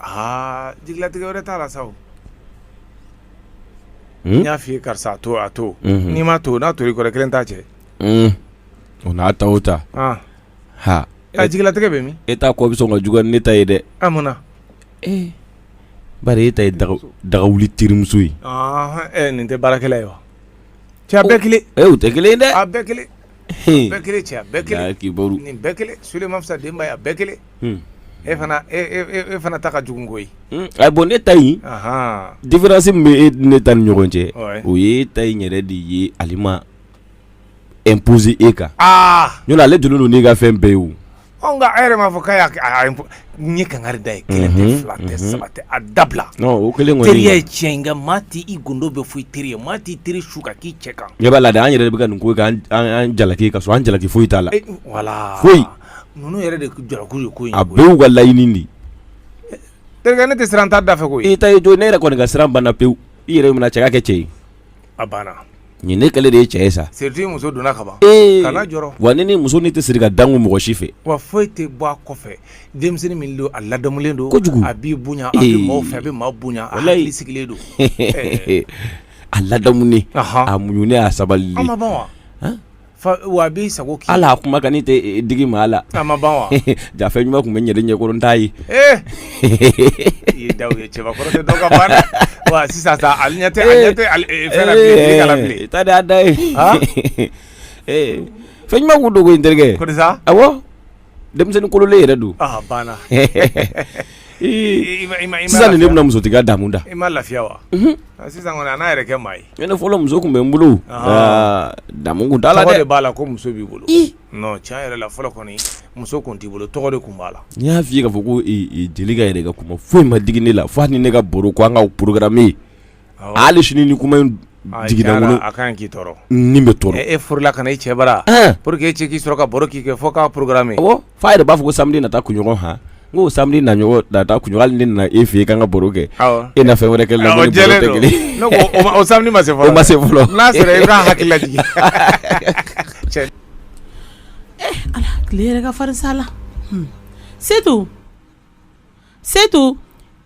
Aa jigilatigɛ wɛrɛ t'a la sa o n y'a f'i ye karisa a to a to unhun n'i m'a to n'a tor'i kɔrɔ i 1 t'a cɛ uun o n'a ta o ta an haa ɛ jigilatigɛ bɛ min e ta kɔ bɛ sɔn ka juguya ni ne ta ye dɛ a mun na ee bari e ta ye daga w dagawuli terimuso ye ɔnhɔn ɛ nin tɛ baarakɛla ye wa cɛ a bɛɛ 1 ee u tɛ 1 ye dɛ a bɛɛ 1 bɛɛ kelen cɛ bɛɛ kelen k'i nin bɛɛ kelen soman fisa denba ye a bɛɛ kelen e fana e fana ta ka jugu koyi bon ne ta in différence min bɛ e ne ta ni ɲɔgɔn cɛ o ye ta in yɛrɛ de ye ale ma imposer e kan aa n'o ale donnen don n'i ka fɛn bɛɛ ye o Anw nka a yɛrɛ b'a fɔ k'a ye kangari da ye kelen tɛ fila tɛ saba tɛ a dabila kelen teriya ye tiɲɛ ye nka maa tɛ i gundo bɛɛ fɔ i teri ye maa t'i teri su ka k'i cɛ kan i b'a la an yɛrɛ bɛ ka nin ko jalaki ka an jalaki foyi t'a la wala foyi ninnu yɛrɛ de jalaki ye ko a bɛɛ y'u ka laɲini de terikɛ ne tɛ siran an ta da fɛ ko e ta don ne yɛrɛ kɔni ka siran banna pewu i yɛrɛ minɛ cɛ ka kɛ cɛ ye a banna nin ne kɛlen de ye cɛ ye sa surtout muso donna ka ban kana jɔrɔ wa ne ni muso ni tɛ siri ka dankun mɔgɔ si fɛ wa foyi tɛ bɔ a kɔfɛ denmisɛnnin min don a ladamulen don kojugu a b'i bonya a bɛ maaw fɛ a bɛ maa bonya a hakili sigilen don a ladamunen a muɲunen a sabalilen a ma ban wa Wa a b'i sago kɛ a kumakan tɛ digi maa la jaa fɛn ɲuman tun bɛ ne ɲɛ kɔrɔ n t'a ye sisan jaa fɛn ɲuman tun dogo n terikɛ denmisɛnnin kololen yɛrɛ don banna sisan nin ne bɛna musotigiya damu da i ma lafiya wa sisan kɔni n'a yɛrɛ kɛ maa ye ne fɔlɔ muso tun bɛ n bolo damu tun t'a la dɛ tɔgɔ de b'a la ko muso b'i bolo tiɲɛ yɛrɛ la fɔlɔ kɔni muso tun t'i bolo tɔgɔ de tun b'a la n y'a f'i ye k'a fɔ ko jelika yɛrɛ ka kuma foyi ma digi ne la fo hali ni ne ka baro ko an k'a programmer hali sini ni kuma in jiginna n kɔnɔ n bɛ tɔɔrɔ e furula ka na i cɛ bara pour que e cɛ k'i sɔrɔ ka baro k'i kɛ fo k'a programmer fo a yɛrɛ b'a fɔ ko samedi nata kunɲɔgɔn hɔn n ko samedi nata kunɲɔgɔn ne nana e fɛ yen k'an ka baro kɛ e na fɛn wɛrɛ kɛ la o samedi ma se ma se fɔlɔ n'a sɔrɔ i ka hakilila ala tile yɛrɛ ka farin sa la setu setu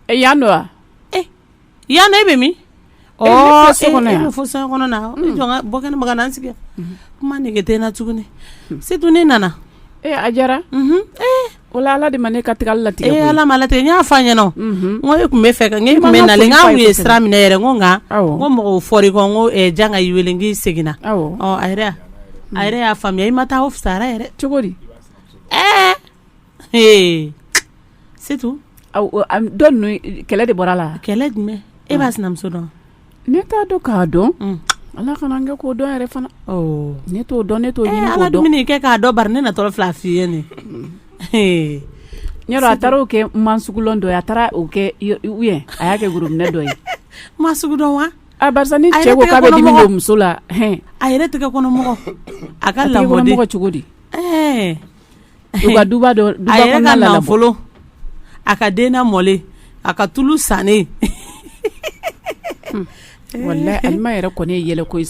yan don wa yan e bɛ min bɔ kɛnɛ sigi kuma nege tɛ n na tuguni setu ne nana ee a diyara o ala de ma ne ka tagali latigɛ e ala ma latigɛ n y'a fɔ a ɲɛna n ko e tun b'a fɛ ka e tun bɛ na n' ye sira minɛ yɛrɛ ko nka ko mɔgɔw fɔra i kɔ jan ka wele k'i seginna a a yɛrɛ y'a faamuya i ma taa o fisayara yɛrɛ cogo di ɛɛ ee setu don kɛlɛ de bɔra la kɛlɛ jumɛn e b'a sinamuso dɔn ne t'a dɔn k'a dɔn ala kana n kɛ k'o dɔn yɛrɛ fana ne t'o dɔn ne t'o ɲini k'o ala dɔn dumuni kɛ k'a dɔn bari ne na tɔɔrɔ fila f'i ye ne n a taara o kɛ man sugulɔn dɔ a taara o kɛ u ye a y'a kɛ worominɛ dɔ ye ma sugu dɔn wa barisa ni cɛ ko k'a bɛ dimi don muso la a yɛrɛ tɛgɛ kɔnɔmɔgɔ a ka lamɔden cogo di a ka den lamɔlen a ka tulu sannen yɛrɛ kɔni ye yɛlɛko ye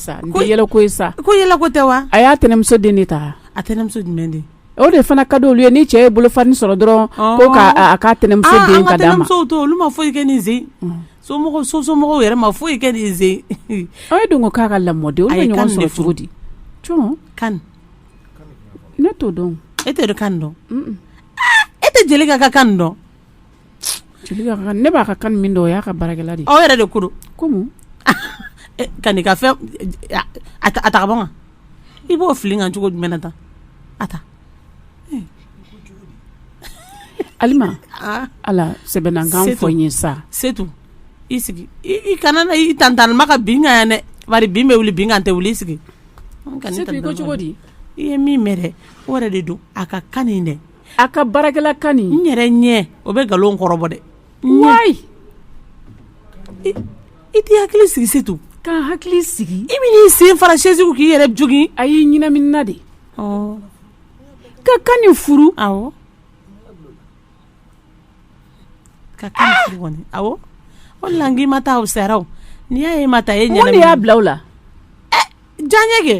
sa ko yɛlɛko tɛ wa a y'a tɛnɛnmuso den de ta a tɛnɛnmuso jumɛn de o de fana ka di olu ye ni cɛ ye bolofa nin sɔrɔ dɔrɔn ko k'a ka tɛnɛnmuso ah, den ka d'a ma to olu ma foyi kɛ nin sen mm. somɔgɔw yɛrɛ ma foyi kɛ nin sen aw ye don ko k'a ka lamɔden olu bɛ ɲɔgɔn sɔrɔ cogo di jɔn kan Ne t'o dɔn e tɛ kan dɔn e tɛ jelika ka kan dɔn ne b'a ka kan min dɔn o y'a ka baarakɛla de o yɛrɛ de ko kɔmi kan ka fɛn a ta ka bɔ i b'o fili n kan cogo jumɛn na tan a ta alima ala sɛbɛ la kan fɔ n ye sa setu i sigi i kana na i tantanma ka bin n kan yan dɛ bari bin bɛ wuli bin kan tɛ wuli i sigi cogo di i ye min mɛn o yɛrɛ de don a ka kan nin dɛ a ka baarakɛla kan nin n yɛrɛ ɲɛ o bɛ nkalon kɔrɔbɔ dɛ i t'i hakili sigi setu ka n hakili sigi i bɛ n'i sen fara sɛsi kun k'i yɛrɛ jogin a y'i ɲɛnaminina de ka kan nin furu Ka kan furu kɔni o la n k'i ma taa saraw n'i y'a ye ma taa e ɲɛ mun de y'a bila o la diyaɲɛ kɛ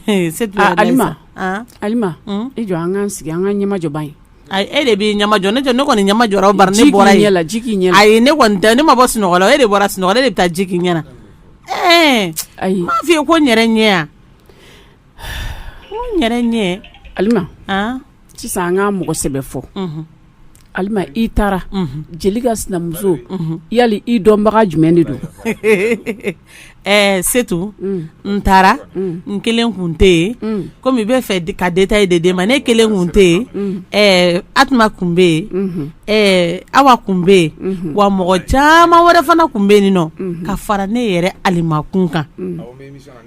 e setu i jɔ an k'an sigi an k'an ɲɛmajɔ ban ye e de b'i ɲɛmajɔ ne ne kɔni ɲɛmajɔra bari ne bɔra yen ji k'i ɲɛ la ayi ne kɔni tɛ ne ma bɔ sunɔgɔ la e de bɔra sunɔgɔ la e de bɛ taa ji k'i ɲɛ na ɛɛ ayi n m'a f'i ye ko n yɛrɛ ɲɛ yɛrɛ ɲɛ alima sisan an ka mɔgɔ sɛbɛ fɔ alima i taara jelika sinamuso yali i dɔnbaga jumɛn de don ɛɛ setu n taara n kelen kun tɛ yen komi i bɛ fɛ ka detayi de mɛn ne kelen kun tɛ yen ɛɛ atuma kun bɛ yen ɛɛ awa kun bɛ yen wa mɔgɔ caman wɛrɛ fana kun bɛ yen nin nɔ ka fara ne yɛrɛ alima kun kan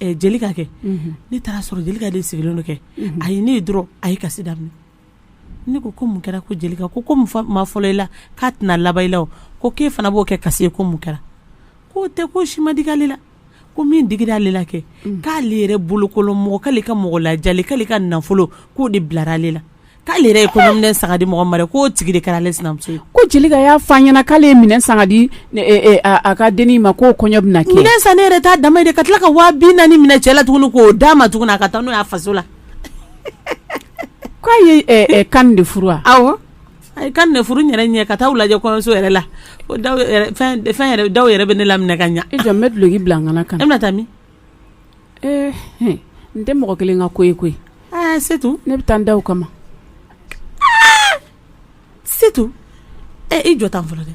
Jelika kɛ ne taara sɔrɔ Jelika de sigilen don kɛ a ye ne ye dɔrɔn a ye kasi daminɛ ne ko ko mun kɛra ko Jelika ko ko ma fɔlɔ i la k'a tɛna laban i la ko k'e fana b'o kɛ kasi ye ko mun kɛra k'o tɛ ko si ma digi ale la ko min digira ale la kɛ k'ale yɛrɛ bolokolon mɔgɔ k'ale ka mɔgɔ lajɛli k'ale ka nafolo k'o de bilara ale la k'ale yɛrɛ ye kɔɲɔminɛn san ka di mɔgɔ min ma dɛ k'o tigi de kɛra ale sinamuso ye, ko Jelika y'a fɔ a ɲɛna k'ale ye minɛn san ka di a ka dennin ma k'o kɔɲɔ bɛna kɛ, minɛn san ne yɛrɛ t'a dama ye dɛ ka tila ka waa bi naani minɛ cɛ la tuguni k'o d'a ma tuguni a ka taa n'o ye a faso la k'a ye Kani de furu wa, awɔ, a ye Kani de furu n yɛrɛ ɲɛ ka taa u lajɛ kɔɲɔso yɛrɛ la ko Daw yɛrɛ fɛn yɛrɛ Daw yɛrɛ bɛ ne laminɛ ka ɲɛ, i jɔ n bɛ duloki bila n kanna ka na, e bɛna taa min Ee n tɛ mɔgɔ kelen ka ko ye koyi Setu ne bɛ taa Ndaw kama Setu e i jɔ tan fɔlɔ dɛ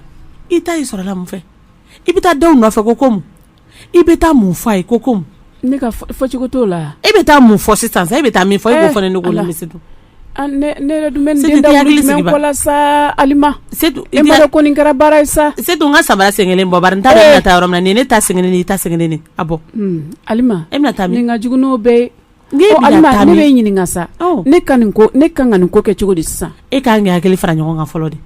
i ta i sɔrɔla mun fɛ i bɛ taa Daw nɔfɛ ko mun i bɛ taa mun fɔ a ye ko mun ne ka fɔcogo t'o la e bɛ taa mun fɔ sisan sa e bɛ taa min fɔ e b'o fɔ ne Ne yɛrɛ dun bɛ ko la sa Alima e ma dɔn ko nin kɛra baara ye sa Setu n ka sabara sen kelen bɔ n t'a dɔn e bɛna taa yɔrɔ min na nin ye ne ta sen kelen i ta sen kelen a bɔ Alima e bɛna taa min nin ka jugu n'o bɛɛ ye ne b'e ɲininka sa ne ka nin ko ne ka kan ka nin ko kɛ cogo di sisan e ka kan ka hakili fara ɲɔgɔn kan fɔlɔ de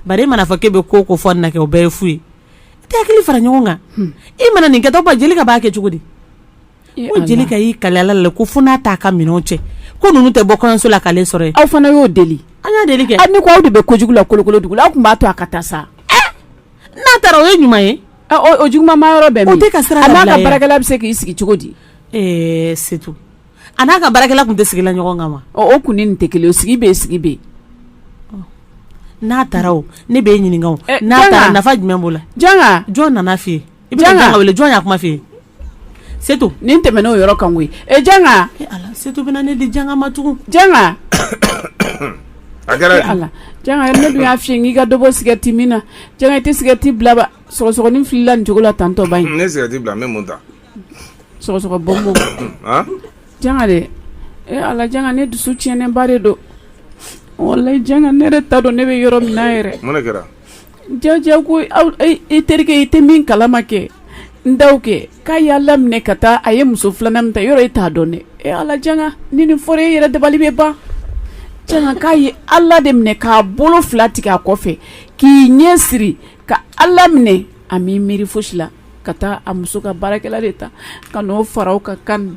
bari e mana fɔ k'i bɛ ko ko fɔ na kɛ o bɛɛ ye fu ye e tɛ hakili fara ɲɔgɔn kan e mana nin kɛ tɔgɔ ba Jelika b'a kɛ cogo di Ko Jelika y'i kali Ala la ko fo n'a ta a ka minɛn cɛ ko ninnu tɛ bɔ kɔɲɔso la k'ale sɔrɔ yen aw fana y'o deli an y'a deli kɛ aw ni ko aw de bɛ ko kojugu la kolokolo dugu aw tun b'a to a ka taa sa n'a taara o ye ɲuman ye o juguman ma yɔrɔ bɛɛ tɛ ka sira n'a ka baarakɛla bɛ se k'i sigi cogo di ɛɛ Setu a n'a ka baarakɛla tun tɛ sigila ɲɔgɔn kan wa o kun ni nin tɛ kelen o sigi bɛ sigi bɛ n'a taara o ne b'e ɲininka n'a taara nafa jumɛn b'o la Janga jɔn nana f'i ye i bɛ Janga wele jɔn y'a kuma f'i ye Setu nin tɛmɛna o yɔrɔ kan koyi e Janga Setu bɛna ne di Janga ma tugun Janga a kɛra ne dun y'a f'i ye k'i ka dɔ bɔ sigarɛti min na Janga i tɛ sigarɛti bila ba sɔgɔsɔgɔnin filɛ i la nin cogo la tantɔba in ne sigarɛti bila n bɛ mun ta sɔgɔsɔgɔ bɔnbɔn Janga dɛ e Ala Janga ne dusu tiɲɛnenba de don walayi Janga ne yɛrɛ t'a dɔn ne bɛ yɔrɔ min na yɛrɛ mun de kɛra Jaa jaa ko e terikɛ i tɛ min kalama kɛ Ndaw kɛ k'a ye Ala minɛ ka taa a ye muso filanan min ta yɔrɔ e t'a dɔn ne e Ala Janga ni nin fɔra e yɛrɛ dabali bɛ ban Janga k'a ye Ala de minɛ k'a bolo fila tigɛ a kɔfɛ k'i ɲɛ siri ka Ala minɛ a m'i miiri fosi la ka taa a muso ka baarakɛla de ta ka n'o fara o ka kan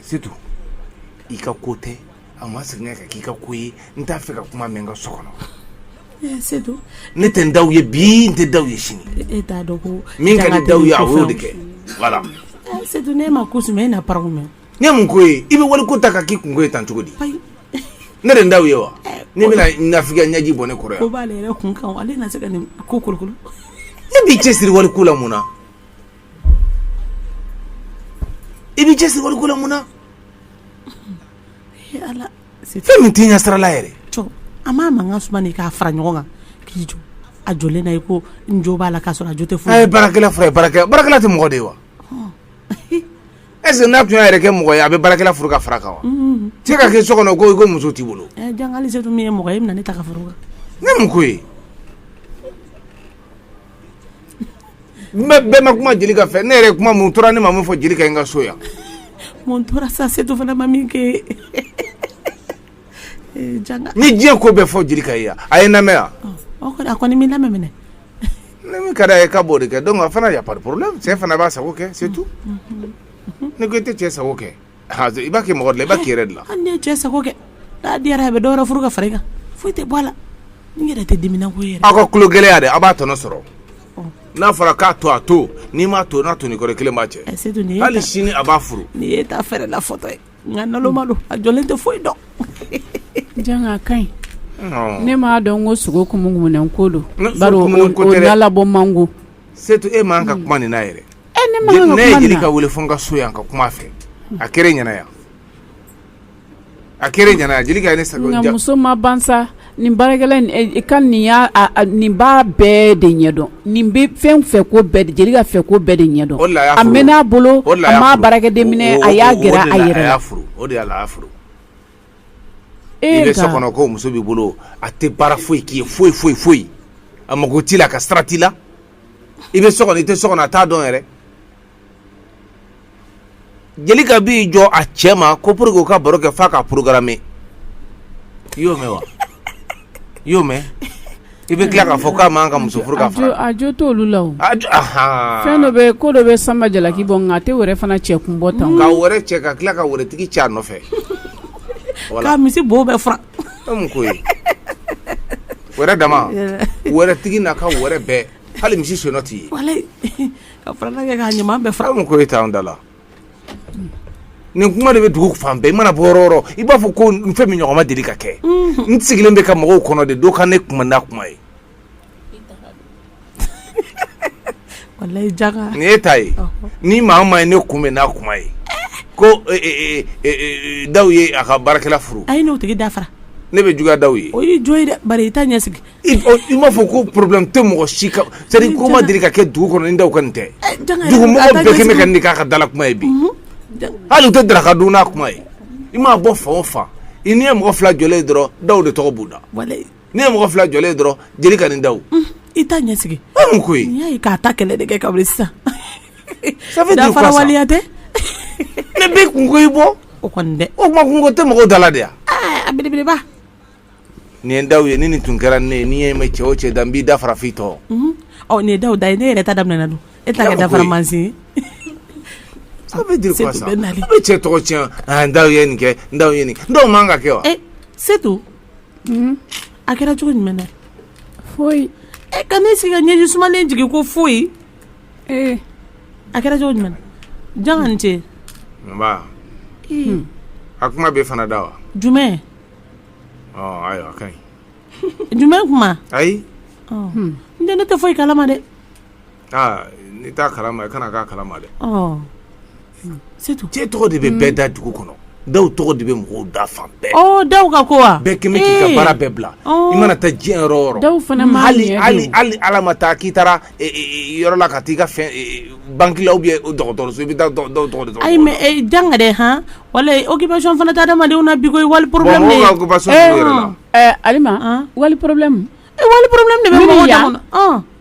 Setu i ka ko tɛ a ma segin ka k'i ka ko ye n t'a fɛ ka kuma mɛn n ka so kɔnɔ eh, setu ne tɛ n daw ye bi n tɛ daw ye sini e, e t'a dɔn ko min ka di daw ye a y'o de kɛ voilà eh, setu ne ma ko sumɛ e na paraw mɛn ne mun ko ye i bɛ wali ko ta ka k'i kunko ye tan cogo di ne de n daw ye wa eh, ne bɛna nafigiya ɲɛji bɔ ne kɔrɔ yan ko b'ale yɛrɛ kun kan ale na se ka nin ko kolokolo e b'i cɛsiri wali ko la mun na i b'i cɛsiri waliko la mun na, ee Ala, fɛn min t'i ɲɛsirala yɛrɛ, jɔ a ma mankan suma de k'a fara ɲɔgɔn kan k'i jɔ a jɔlen na i ko n jo b'a la k'a sɔrɔ a jo tɛ foyi la, a ye baarakɛla furu ye baarakɛla, baarakɛla tɛ mɔgɔ de ye wa, est ce que n'a tun y'a yɛrɛ kɛ mɔgɔ ye a bɛ baarakɛla furu ka fara a kan wa, unhun, cɛ ka kɛ so kɔnɔ ko i ko muso t'i bolo, ɛ Janga Alijatu min ye mɔgɔ ye e bɛna ne ta ka fara o kan, ne mun k'o ye bɛɛ ma kuma Jelika fɛ ne yɛrɛ kuma mun tora ne ma min fɔ Jelika ye n ka so yan mun tora sa Setu fana ma min kɛ n ye diɲɛ ko bɛɛ fɔ Jelika ye yan a ye n lamɛn yan a kɔni ma n lamɛn mais ni min ka d'a ye k'a b'o de kɛ donc a fana y a pas de problème cɛ fana b'a sago kɛ c'est tout ne ko e tɛ cɛ sago kɛ Ha i b'a kɛ mɔgɔ de la i b'a kɛ i yɛrɛ de la hali n'i ye cɛ sago kɛ n'a diyara a bɛ dɔ wɛrɛ furu ka fara i kan foyi tɛ bɔ a la n yɛrɛ tɛ dimina ko yɛrɛ aw ka tulo gɛlɛya de aw b'a tɔnɔ sɔrɔ n'a fɔra k'a to a to n'i m'a to n'a to ni kelen b'a cɛ hali sini a b'a furu n'i ye ta fɛɛrɛ la fɔtɔ ye nka naloma don a jɔlen tɛ foyi dɔn Janga ka ɲi ne m'a dɔn ko sogo kumunkumunɛ ko don bari o nalabɔ man go Setu e man ka kuma nin na yɛrɛ ne man ka kuma ne ye Jelika weele fo n ka so yan ka kuma a fɛ a kɛra ɲɛna yan a kɛra ɲɛna ye ne sa muso ma ban sa nin baarakɛla ka nin y'a nin b'a bɛɛ de ɲɛdɔn nin bɛ fɛn fɛ ko bɛɛ de Jelika fɛ ko bɛɛ de ɲɛdɔn a mɛnna a bolo a m'a baarakɛden minɛ a y'a gɛrɛ a yɛrɛ la o de la a y'a furu e bɛ so kɔnɔ ko muso b'i bolo a tɛ baara foyi k'i ye foyi foyi foyi a mako t'i la a ka sira t'i la i bɛ so kɔnɔ i tɛ so kɔnɔ a t'a dɔn yɛrɛ Jelika b'i jɔ a cɛ ma ko pour que u ka baro kɛ f'a ka programme i y'o mɛn wa i y'o mɛn i bɛ tila k'a fɔ k'a man ka muso furu ka fara a jo t'olu la o a jo ahan fɛn dɔ bɛ ko dɔ bɛ Sanba jalaki bɔ nka a tɛ wɛrɛ fana cɛ kun bɔ tan ka wɛrɛ cɛ ka tila ka wɛrɛtigi cɛ a nɔfɛ k'a misi bo bɛɛ furan ko ye wɛrɛ dama wɛrɛ tigi n'a ka wɛrɛ bɛɛ hali misi sennɔ tɛ ye k'a ɲuman bɛɛ fara mun ko e t'an da la nin kuma de bɛ dugu fan bɛɛ i mana bɔ yɔrɔ o yɔrɔ i b'a fɔ ko n fɛn min ɲɔgɔn ma deli ka kɛ n sigilen bɛ ka mɔgɔw kɔnɔ de dɔn ka ne kuma da kuma ye E t'a ye ni mama ye ne kunbɛn n'a kuma ye ko daw ye a ka baarakɛla furu a ye n'o tigi dafara ne bɛ juguya daw ye o ye jɔn i i t'a ɲɛ sigi i m'a fɔ ko problème tɛ mɔgɔ si ko ma deli ka kɛ dugu kɔnɔ ni daw ka nin tɛ dugu mɔgɔ bɛɛ kɛmɛ ka nin k'a ka dala kuma ye bi hali u tɛ daraka dun n'a kuma ye i m'a bɔ fan o fan i n'i ye mɔgɔ fila jɔlen dɔrɔn daw de tɔgɔ b'u da n'i ye mɔgɔ fila jɔlen dɔrɔn jeli ka nin daw i t'a ɲɛ sigi ko n'i y'a ye k'a ta kɛlɛ de kɛ ka wuli sisan dafara waleya tɛ ne bɛ kun ko i bɔ o kɔni dɛ o tuma kun ko tɛ mɔgɔw dala de yan a belebeleba nin ye daw ye ni nin tun kɛra ne ye n'i y'a mɛn cɛ o cɛ da n b'i da fara f'i tɔn nin ye daw da ye ne yɛrɛ ta daminɛna don e t'a kɛ dafara mansin ye ça veut dire quoi ça a bɛ cɛ tɔgɔ tiɲɛ n daw ye nin kɛ n daw ye nin kɛ n daw man k'a kɛ wa setu a kɛra cogo jumɛn foyi e ka ne sigi ka ɲɛji sumalen jigin ko foyi ee a kɛra cogo jumɛn janga i ni ce nba a kuma b'e fana da wa jumɛn ayiwa a ka ɲi jumɛn kuma ayi n tɛ ne tɛ foyi kalama dɛ Aa n'i t'a kalama i kana k'a kalama dɛ setu cɛ tɔgɔ de bɛ bɛɛ da dugu kɔnɔ daw tɔgɔ de bɛ mɔgɔw da fan bɛɛ daw ka ko wa bɛɛ kɛmɛ k'i ka baara bɛɛ bila i mana taa diɲɛ yɔrɔ o yɔrɔ daw fana ma hali ala ma taa k'i taara yɔrɔ la ka taa i ka fɛn banki la ou bien dɔgɔtɔrɔso i bɛ daw tɔgɔ de ayi mais janga dɛ hɔn wala occupation fana tɛ adamadenw na bi koyi wali problème wali problème de bɛ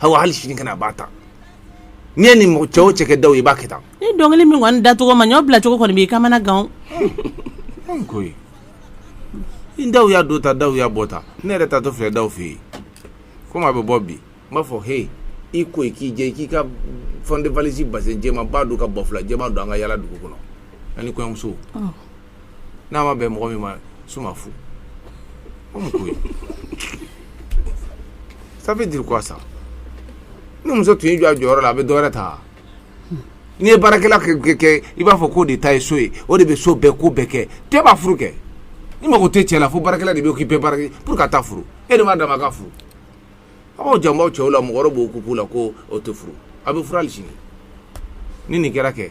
aw hali sini ka na a b'a ta n'i ye nin cɛ o cɛ kɛ daw i b'a kɛ tan ni dɔnkili min kɔni dacogo ma ɲɛ o bila cogo kɔni b'i kamana gan ko ni daw y'a don ta daw y'a bɔ ta ne yɛrɛ taatɔ filɛ daw fɛ yen komi a bɛ bɔ bi n b'a fɔ he i ko k'i jɛ k'i ka fond de valise bazin jɛmanba don ka banfula jɛman don an ka yala dugu kɔnɔ ani kɔɲɔmuso n'a ma bɛn mɔgɔ min ma su ma fu o mun ko ye ça veut dire quoi ça ni muso tun y'i jɔ a jɔyɔrɔ la a bɛ dɔ wɛrɛ ta n'i ye baarakɛla kɛ kɛ i b'a fɔ k'o de ta ye so ye o de bɛ so bɛɛ ko bɛɛ kɛ cɛ b'a furu kɛ n'i mago tɛ cɛ la fo baarakɛla de bɛ occuper baara kɛ pour ka taa furu e de b'a dama ka furu a b'aw janbaw cɛw la mɔgɔ wɛrɛ bɛ occuper a la ko o tɛ furu a bɛ furu hali sini ni nin kɛra kɛ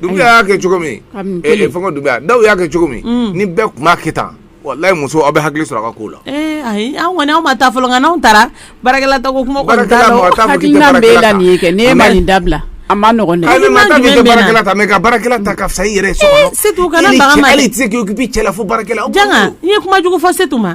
Dumbuya y'a kɛ cogo min dumbuya daw y'a kɛ cogo min ni bɛɛ tun b'a kɛ tan wallahi muso aw bɛ hakili sɔrɔ a ka ko la anw ma taa fɔlɔ n'an taara baarakɛla ta ka fisa i yɛrɛ cɛla fo bara i ye kuma jugu fɔ setu ma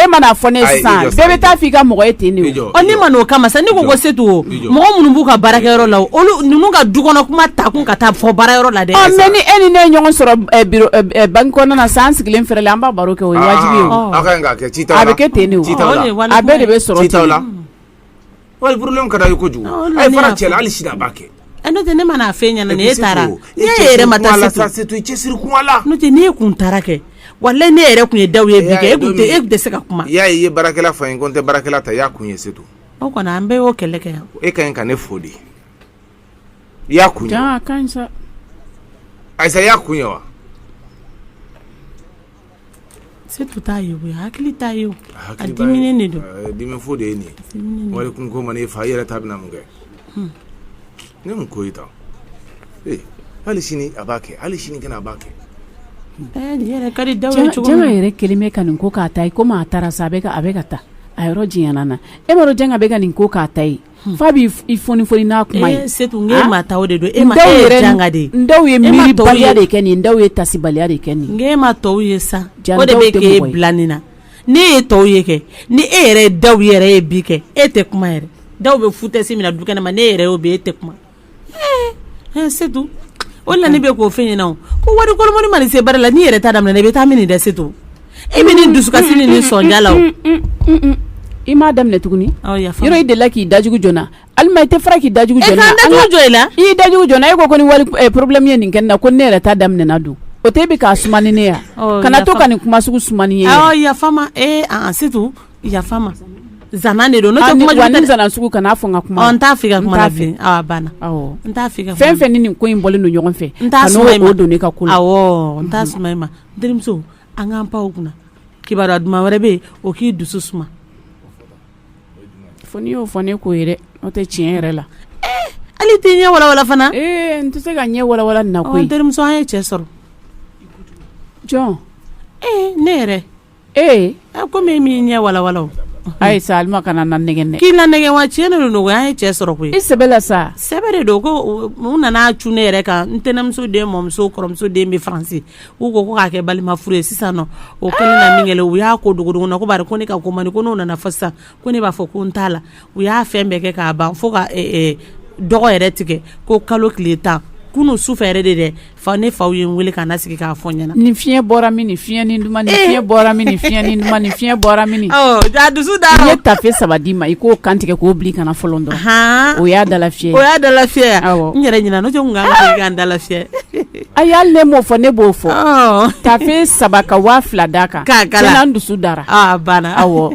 e man'a fɔ ne sisan bɛɛ bɛ taa f'i ka mɔgɔ ye ten de ne ma n'o kama sa ne ko ko c'est tout mɔgɔ minnu b'u ka baarakɛyɔrɔ la olu ninnu ka du kɔnɔ kuma ta kun ka taa fɔ baarayɔrɔ la dɛ mais ni e ni ne ye ɲɔgɔn sɔrɔ banki kɔnɔna na sa an sigilen fɛrɛ la an b'a baro kɛ o ye wajibi ye a bɛ kɛ ten a bɛɛ de bɛ sɔrɔ la Wali problème ka d'a ye kojugu a fara cɛ la hali sini a b'a kɛ a n'o tɛ ne man'a fɛn ɲɛna ni e taara ne yɛrɛ ma taa la sa c'est tout i cɛsiri kuma la n'o tɛ n'e kun taara kɛ walayi n'e yɛrɛ tun ye daw ye bi kɛ e tun tɛ se ka kuma y'a ye bara fa in ko n tɛ baarakɛla ta y'a kun ye c'est tout o kɔni an bɛɛ y'o kɛlɛ kɛ yan e ka ɲi ka ne fo de i y'a kun ye ayisa i y'a kun ye wa C'est tout t'a ye hakili t'a ye a diminen de don dimi fo de ye nin ye wali kun ko man'i fa i yɛrɛ ta bɛna mun kɛ ne mun ko e ta ee hali sini a b'a kɛ hali sini a b'a kɛ janga yɛrɛ kelen bɛ ka nin ko k'a ta ye komi a taara sa a a bɛ ka taa a yɔrɔ jɛya nin na e m'a dɔn janga bɛ ka nin ko k'a ta ye F'a b'i fonifoni n'a kuma ye c'est tout n k'e ma taa o de don e ma ye janga dɛ n daw ye miiribaliya de kɛ nin daw ye taasibaliya de kɛ nin n k'e ma tɔw ye sa o de bɛ k'e bila nin na n'e ye tɔw ye kɛ ni e yɛrɛ ye daw yɛrɛ ye bi kɛ e tɛ kuma yɛrɛ daw bɛ foutaise min na du kɛnɛ ma n'e yɛrɛ y'o bɛ e tɛ kuma Ee c'est tout o la ne bɛ k'o fɛn ɲɛna o ko wari kolokɔni mana se baara la n'i yɛrɛ ta daminɛ i bɛ taa min nin dɛ c'est tout e bɛ nin dusukasi ni nin sɔnja la i m'a daminɛ tuguni yɔrɔ i delila k'i dajugu jɔ n na alima i tɛ fara k'i dajugu jɔ n na ne ka n dajugu jɔ i la i y'i dajugu jɔ n na e ko ko ni wali problème ye nin kɛ ne na ko ne yɛrɛ ta daminɛna dun o tɛ e bɛ k'a suma ni ne ye kana to ka nin kuma sugu suma ni n ye yafa ma ee c'est yafa ma zana de don kana fɔ ka kuma n t'a fɛ ka kuma banna n t'a fɛn fɛn ni nin ko in bɔlen don ɲɔgɔn fɛ n t'a don ne ka ko la n t'a suma e ma terimuso an k'an pan o kunna kibaru duman wɛrɛ bɛ yen o k'i dusu suma fo n'i y'o fɔ ne ko ye dɛ n'o tɛ tiɲɛ yɛrɛ la eh, hali t'i ɲɛ walawala fana eh, n tɛ se ka ɲɛ walawala nin na koyi terimuso an ye cɛ sɔrɔ jɔn eh, ne yɛrɛ ee komi e m'i ɲɛ walawala o ayi sa alima kana n nanɛgɛn dɛ k'i nanɛgɛn wa tiɲɛ de don n ko an ye cɛ sɔrɔ koyi i sɛbɛ la sa sɛbɛ de don ko u nana cun ne yɛrɛ kan n tɛnɛmuso den mɔmuso kɔrɔmuso den bɛ faransi u ko ko k'a kɛ balima furu ye sisan o kɛlen na min kɛ u y'a ko dogodogo n na ko bari ko ne ka ko man di ko n'o nana fa sisan ko ne b'a fɔ ko n t'a la u y'a fɛn bɛɛ kɛ k'a ban fo ka dɔgɔ yɛrɛ tigɛ ko kalo tile tan kunun su fɛ yɛrɛ de dɛ fa ne faw ye n wele ka na sigi k'a fɔ n ɲɛna ni fiɲɛ bɔra min ni fiɲɛ ni duman ni eh! fiɲɛ bɔra min ni fiɲɛ ni duman ni fiɲɛ bɔra min a dusu da i ye tafe saba d'i ma i k'o kantigɛ k'o bili kana fɔlɔ dɔrɔn o y'a dala fiyɛ o y'a dala fiyɛ awɔ n yɛrɛ ɲinɛ n'o tɛ n kun kan ka kɛ ka n dala fiyɛ ayi hali ne m'o fɔ ne b'o fɔ tafe saba ka waa fila d'a kan k'a kala n dusu dara a banna awɔ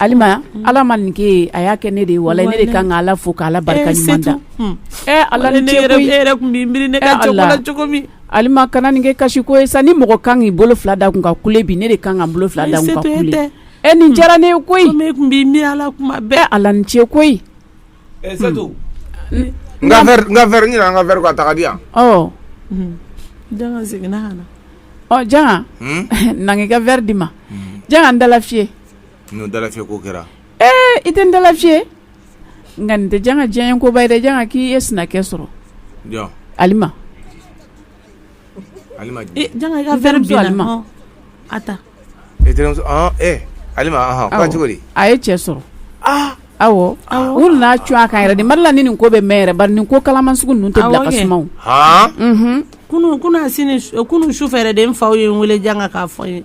ala ma nin kɛ a y'a kɛ ne de ye walayi ne de kan ka ala fo k'ala barika da Alima kana nin kɛ kasi ko ye sani mɔgɔ kan k'i bolo fila da kun ka kule bi ne de kan ka n bolo fila da ɛ nin diyara ne ye koyi ala kuma bɛɛ ala ni ce koyi n ka verre ka taga di yan janga na n k'i ka verre d'i ma janga n dala fiyɛ N'o dalafiyɛ ko kɛra ɛɛ i tɛ n dalafiyɛ nka nin tɛ Janga diyanyeko ba ye dɛ Janga k'i ye sinakɛ sɔrɔ jɔn Alima Alima jumɛn ee Janga i ka verre di Alima ɔn a ta e terimuso ɔn e Alima ɔnhɔn ko cogo di a ye cɛ sɔrɔ aa awɔ u nana cun a kan yɛrɛ de n ma d'a la ni nin ko bɛ mɛn yɛrɛ bari nin ko kalaman sugu ninnu tɛ bila ka suma o han unhun kunu kunu a sini su- kunu sufɛ yɛrɛ de n faw ye n wele Janga k'a fɔ n ye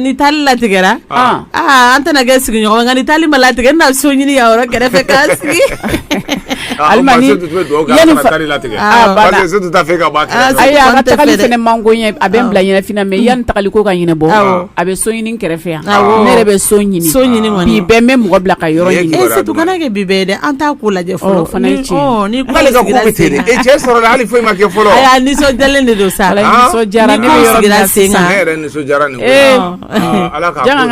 ni taali latigɛra an tɛna kɛ sigiɲɔgɔn ye nka ni taali ma latigɛ n na so ɲini yan yɔrɔ kɛrɛfɛ k'a sigi Alima a ka tagali fɛnɛ man go n ye a bɛ n bila ɲɛnafin na mɛ yanni tagali ko ka ɲɛnabɔ a bɛ so ɲini kɛrɛfɛ yan ne yɛrɛ bɛ so ɲini so ɲini bi bɛɛ n bɛ mɔgɔ bila ka yɔrɔ ɲini surtout kana kɛ bi bɛɛ dɛ an t'a ko lajɛ Fana e cɛ sɔrɔ hali foyi ma kɛ fɔlɔ nisɔn de don sa ka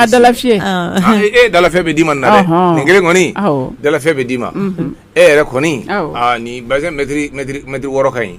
dalafi e dalafɛ bɛ d'i ma na nin kelen kɔnifɛ bɛ d'i ma e yɛrɛ kɔni ni ba mɛtiri wɔɔrɔ ka ɲi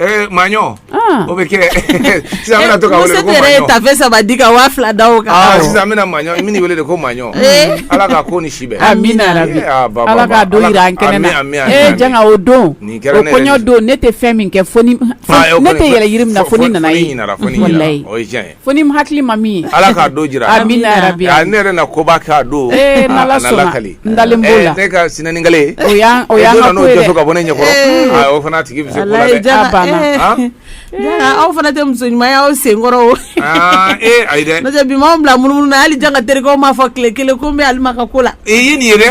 Eh, maɲɔ ah. o bɛ kɛ sisan an bɛna to ka wele ko maɲɔ yɛrɛ ye tafe saba di ka waa fila da o kan ah, sisan an bɛna maɲɔ min wele de ko maɲɔ eh. ala ka ko ni si bɛn amina rabi eh, ah, ala ka don yira an kɛnɛ na ee janga o don o kɔɲɔ don ne tɛ fɛn min kɛ fo ni ne tɛ yɛlɛ yiri min na fo ni n ɲɛ m'a ye walayi o ye tiɲɛ ye Fo ni n hakili ma min ye ala k'a don jira amina rabi ne yɛrɛ na koba k'a don n'ala sɔnna n dalen b'o la ne ka sinanin kale o y'an ka ko ye dɛ n'o tɛ so ka bɔ ne ɲɛkɔrɔ o fana tigi bɛ se o la aw fana tɛ muso ɲuman ye aw senkɔrɔ o ayi dɛ n'o tɛ bi ma mɔgɔ bila munumunu na hali Janga terikɛw m'a fɔ tile kelen ko n bɛ Alima ka ko la e ye nin ye dɛ